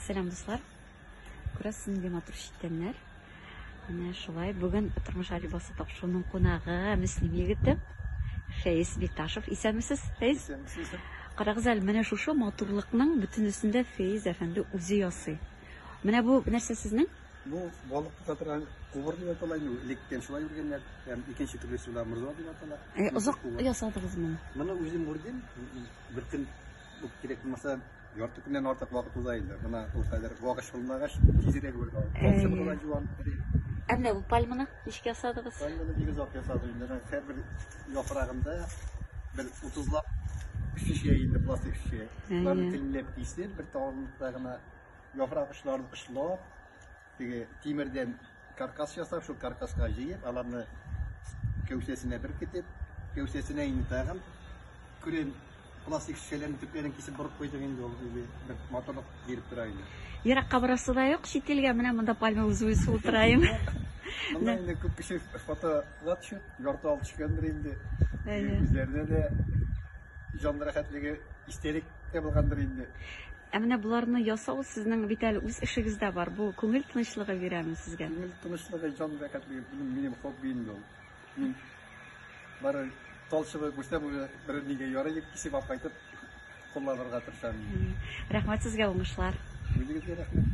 Сәлам дуслар! Күрәсез нинди матур читтәннәр. Менә шулай бүген тормыш алибасы тапшыруның кунагы Мөслим егете Фәиз Биташев. Исәнмесез, Фәиз? Карагыз әле, менә шушы матурлыкның бөтен өстендә Фәиз әфәнде үзе ясый. Менә бу нәрсә сезнең? Бу балык тота торган кубыр дип атала инде. Электән шулай үргәннәр. Һәм икенче төрлесе белән морза дип атала. Озак ясадыгызмы? Моны үзем үрдем. Бер көн кирәк булмаса Ярты көннән артык вакыт уза инде. Менә ул хәзер вак ачылмагач, тизрәк үргә алып. Әй. Тапшырып була җуан. Ә менә бу пальманы ничек ясадыгыз? Һәм моны бик озак ясадым инде. Менә Һәр бер яфрагында бер 30 лап шешә инде пластик шешә. Әйе. Аны телләп кисеп, бер тавында гына яфрак очларын кышлап, Теге тимердән каркас ясап, шул каркаска җыеп, аларны кәүсәсенә беркетеп, кәүсәсенә инде тагын күрен пластик шешәләрен төпләрен кисеп борып куйдык инде ул үзе бер моторлык биреп тора инде. Еракка барасы да юк, чит илгә менә монда пальма үзе үсеп утырайым. Монда инде күп кеше фотога төшеп, ярты алып төшкәндер инде. Үзләренә дә җан рәхәтлеге истәлек ябылгандыр инде. Ә менә боларны ясау сезнең бит әле үз эшегездә бар. Бу күңел тынычлыгы бирәме сезгә? Күңел тынычлыгы, җан рәхәтлеге минем, минем хобби инде ул. Мин бары талчыбы күрсәм уже бер нигә ярый дип кисеп алып кайтып кулланырга тырышам. Рәхмәт сезгә уңышлар. Үзегезгә рәхмәт.